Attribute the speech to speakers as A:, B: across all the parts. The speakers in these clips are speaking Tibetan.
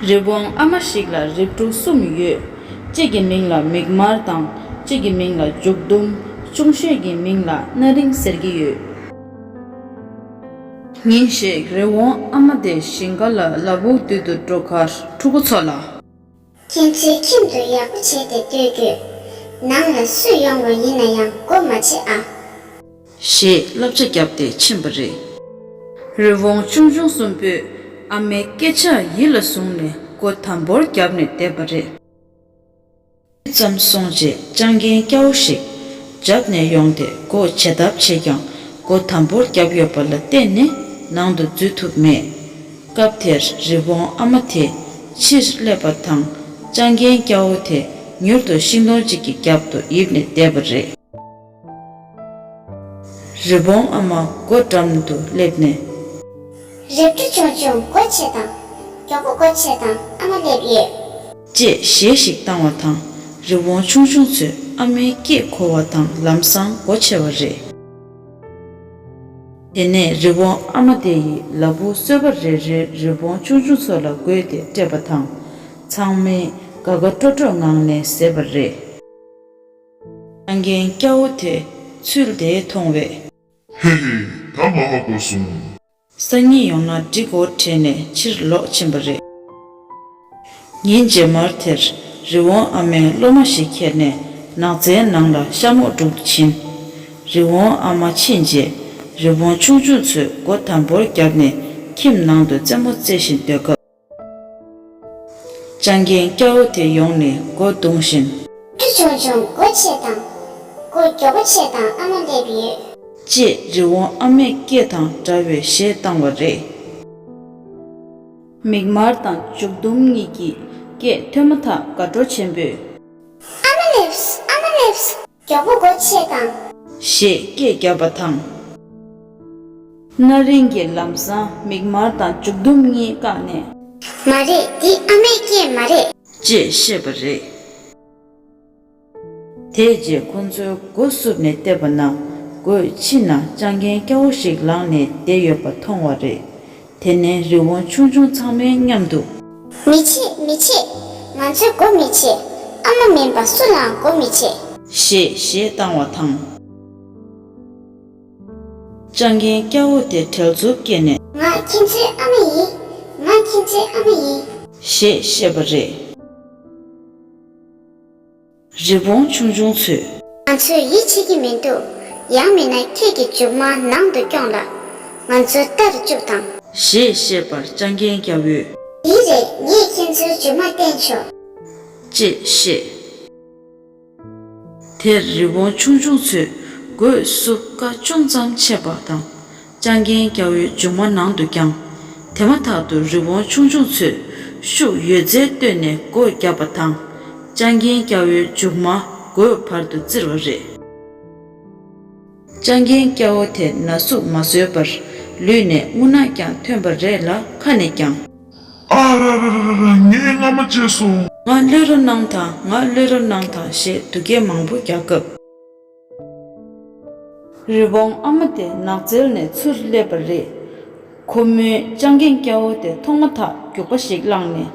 A: རི་བོང་ཨ་མ་ཞིག་ལ་རིགས་དྲུག་གསུམ་ཡོད། གཅིག་གི་མིང་ལ་མིག་དམར་དང་གཅིག་གི་མིང་ལ་མཇུག་ཟླུམ། ཅུང་ཤོས་ཀྱི་མིང་ལ་སྣ་རིང་ཟེར་གྱི་ཡོད། ཉིན་ཞིག་རི་བོང་ཨ་མ་དེ་ཞིང་ཁ་ལ་ལ་བུག་བཏུལ་དུ་འགྲོ་ཁར་ཕྲུ་གུ་ཚོ་ལ།
B: མཁྱེན་བརྩེའི་ཁྱིམ་དུ་ཡག་པོ་བྱས་ཏེ་སྡོད་དགོས། ནང་ལ་སུས་ཡོང་བ་ཡིན་ན་
A: ཡང་སྒོ་མ་ཕྱེ་ཨ། ཞེས་བསླབ་བྱ་བརྒྱབ་སྟེ་ཕྱིན་པ་རེད། རི་བོང་ཆུང་ཆུང་གསུམ་པོས་ཨ་མའི་སྐད་ཆ་ཡིད་ལ་བཟུང་ནས་སྒོ་དམ་པོར་བརྒྱབ་ནས་བསྡད་པ་རེད། ཇི་ཙམ་སོང་རྗེས་སྤྱང་རྒན་སྐྱ་བོ་ཞིག་རྒྱབ་ནས་ཡོང་སྟེ་སྒོ་ཇེ་བརྡབ་བྱས་ཀྱང་སྒོ་དམ་པོར་བརྒྱབ་ཡོད་པ་ལ་བརྟེན་ནས་ནང་དུ་འཛུལ་ཐུབ་མེད། སྐབས་དེར་རི་བོང་ཨ་མ་དེས་ཕྱིར་སླེབས་པ་དང་སྤྱང་རྒན་སྐྱ་བོ་དེ་མྱུར་དུ་ཤིང་སྡོང་གཅིག་གི་རྒྱབ་ཏུ་ཡིབ་ནས་བསྡད་པ་རེད། རི་བོང་ཨ་མ་སྒོ་འགྲམ་དུ་སླེབས་ནས། རེ་བཀྲུ་ཆུང་ཆུང་སྒོ་ཕྱེ་དང། མགྱོགས་
B: པོ་སྒོ་ཕྱེ་དང་ཨ་མ་སླེབས་ཡོད། ཅེས་གཞས་
A: ཤིག་བཏང་བ་དང་རི་བོང་ཆུང་ཆུང་ཚོས་ཨ་མའི་སྐད་གོ་བ་དང་ལམ་སང་སྒོ་ཕྱེ་བ་རེད། དེ་ནས་རི་བོང་ཨ་མ་དེ་ཡིས་ལ་བུ་གསོད་པ་རེ་རེར་རི་བོང་ཆུང་ཆུང་ཚོ་ལ་བགོས་ཏེ་སྤྲད་པ་དང། ཚང་མས་དགའ་དགའ་སྤྲོ་སྤྲོའི་ངང་ནས་བཟས་པ་རེད། སྤྲང་རྒན་སྐྱ་བོ་དེས་ཚུལ་དེ་མཐོང་བས།
C: ཧེ་ཧེ། ད་མ་མ་གོ་སོང། སང་ཉིན་
A: ཡོང་ན་འགྲིག་གོ་དྲན་ནས་ཕྱིར་ལོག་ཕྱིན་པ་རེད། ཉིན་རྗེས་མར་དེར་རི་བོང་ཨ་མའི་སློབ་མ་ཞིག་ཁྱེར་ནས་ནགས་ཚལ་ནང་ལ་ཤ་མོག་སྒྲུག་ཏུ་ཕྱིན། རི་བོང་ཨ་མ་ཕྱིན་རྗེས་རི་བོང་ཆུང་ཆུང་ཚོས་སྒོ་དམ་པོར་བརྒྱབ་ནས་ཁྱིམ་ནང་དུ་རྩེད་མོ་རྩེ་བཞིན་སྡོད་སྐབས། སྤྱང་རྒན་སྐྱ་བོ་དེ་ཡོང་ནས་སྒོ་རྡུང་བཞིན། ཁྱི་ཆུང་ཆུང་
B: སྒོ་ཕྱེས་དང། སྒོ་མགྱོགས་པོ་ཕྱེས་དང་ཨ་མ་སླེབས་ཡོད། ཅེས་རི་
A: བོང་ཨ་མས་སྐད་དང་འདྲ་བའི་གཞས་བཏང་བ་རེད། མིག་དམར་དང་མཇུག་བསྡོམས་གཉིས་ཀྱི་སྐད་ཐོས་མ་ཐག་དགའ་སྤྲོ་ཆེན་པོས། ཨ་མ་
B: ལེབས། ཨ་མ་ལེབས། མགྱོགས་པོ་སྒོ་ཕྱེས་དང། ཞེས་སྐད་
A: བརྒྱབ་པ་དང། སྣ་རིང་གི་ལམ་བཟང་མིག་དམར་དང་མཇུག་བསྡོམས་གཉིས་བཀག་ནས། མ་རེད་
B: འདི་ཨ་མའི་སྐད་མ་རེད། ཅེས་བཤད་པ་
A: རེད། དེའི་རྗེས་ཁོ་ཚོའི་སྒོ་བསུབ་ནས་བལྟས་པ་ན་སྒོའི་ཕྱི་ན་སྤྱང་གན་སྐྱ་བོ་ཞིག་ལངས་ནས་བསྡད་ཡོད་པ་མཐོང་བ་རེད། དེ་ནས་རི་བོང་ཆུང་ཆུང་ཚང་མས་མཉམ་དུ། མི་བྱེད་མི་
B: བྱེད། ང་ཚོས་སྒོ་མི་ཕྱེ། ཨ་མ་མིན་པ་སུ་ལའང་སྒོ་མི་ཕྱེ། ཞེས་གཞས་བཏང་
A: བ་དང། སྤྱང་གན་སྐྱ་བོ་དེ་བྲེལ་འཚུབ་སྐྱེས་ནས། ང་ཁྱིམ་མཚེས་ཨ་
B: མ་ཡིན། ང་ཁྱིམ་མཚེས་ཨ་མ་ཡིན། ཞེས་བཤད་པ་
A: རེད། རི་བོང་ཆུང་ཆུང་ཚོས། ང་ཚོས་ཡིད་ཆེས་
B: ཀྱི་མི་འདུག་ཡང་མིན་ན་ཁྱེད་ཀྱི་མཇུག་མ་ནང་དུ་རྐྱོང་ལ། ང་ཚོ་ལྟར་བཅུག་དང། ཞེས་བཤད་
A: པར་སྤྱང་རྒན་སྐྱ་བོས། ཡིན་རེད་ངས་
B: ཁྱེད་ཚོའི་མཇུག་མ་བསྟན་ཆོག། ཅེས་
A: བཤད། དེར་རི་བོང་ཆུང་ཆུང་ཚོས་སྒོས་སུ་བཀའ་ཅུང་ཙམ་ཆད་པ་དང། ལྕང་རྒན་སྐྱ་བོའི་ལྗོངས་མ་ནང་དུ་བརྐྱང། དེ་མ་ཐག་ཏུ་རི་བོང་ཆུང་ཆུང་ཚོས་ཤུགས་ཡོད་རྩལ་བཏོན་ནས་སྒོ་བརྒྱབ་པ་དང། ལྕང་རྒན་སྐྱ་བོའི་མཇུག་མ་སྒོའི་བར་དུ་བཙིར་བ་རེད། ལྕང་རྒན་སྐྱ་བོ་དེ་ན་ཟུག་མ་བཟོད་པར་ལུས་ནས་རྔུ་ནག་ཀྱང་ཐོན་པ་རེད་ལ་ཁ་ནས་ཀྱང། ཨ་ར་ར་ར་
C: ར་ར་ངས་རྔ་མ་བཅད་སོང། ང་བློས་རོ་གནང་
A: དང་ང་བློས་རོ་གནང་དང་ཞེས་སྡུག་སྐད་མང་པོ་རྒྱག་སྐབས། རི་བོང་ཨ་མ་དེ་ནགས་ཚལ་ནས་ཚུར་སླེབས་པ་རེད། ཁོ་མོའི་སྤྱང་རྒན་སྐྱ་བོ་དེ་མཐོང་མ་ཐག་རྒྱུག་པ་ཞིག་བླངས་ནས་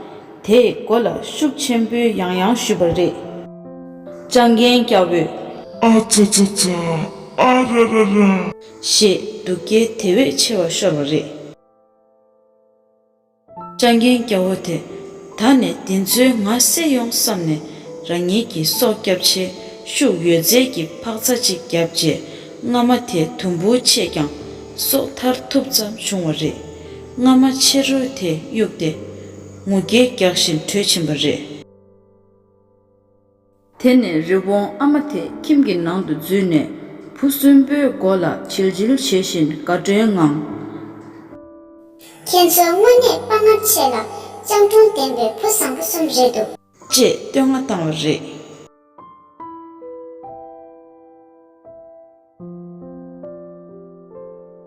A: དེའི་མགོ་ལ་ཤུགས་ཆེན་པོའི་ཡང་ཡང་གཞུས་པ་རེད། སྤྱང་རྒན་སྐྱ་བོས། ཨ་ཅཱ་ཅཱ་
C: ཅཱ། ཨ་ར་ར་ར། ཞེས་
A: སྡུག་སྐད་དེ་བས་ཆེ་བ་ཤོར་བ་རེད། སྤྱང་རྒན་སྐྱ་བོ་དེ་ད་ནས་འདི་ཚོའི་ང་བསད་ཡོང་བསམ་ནས་རང་ཉིད་ཀྱི་སྲོག་སྐྱབས་ཆེད་ཤུགས་ཡོད་ཚད་ཀྱི་འཕག་རྩ་གཅིག་བརྒྱབ་རྗེས་རྔ་མ་དེ་དུམ་བུར་ཆད་ཀྱང་སྲོག་ཐར་ཐུབ་ཙམ་བྱུང་བ་རེད། རྔ་མ་ཕྱི་རོལ་དེ་གཡུགས་ཏེ་ངུ་སྐད་རྒྱག་བཞིན་བྲོས་ཕྱིན་པ་རེད། དེ་ནས་རི་བོང་ཨ་མ་དེ་ཁྱིམ་གྱི་ནང་དུ་འཛུལ་ནས་བུ་གསོན་པོའི་མགོ་ལ་བྱིལ་བྱིལ་བྱེད་བཞིན་དགའ་སྤྲོའི་ངང། ཁྱེད་
B: ཚོ་དངོས་གནས་དཔའ་ངར་ཆེ་ལ་སྤྱང་
A: གྲུང་
B: ལྡན་པའི་བུ་བཟང་
A: པོ་གསུམ་
B: རེད་འདུག། ཅེས་བསྟོད་བསྔགས་
A: བཏང་བ་
B: རེད།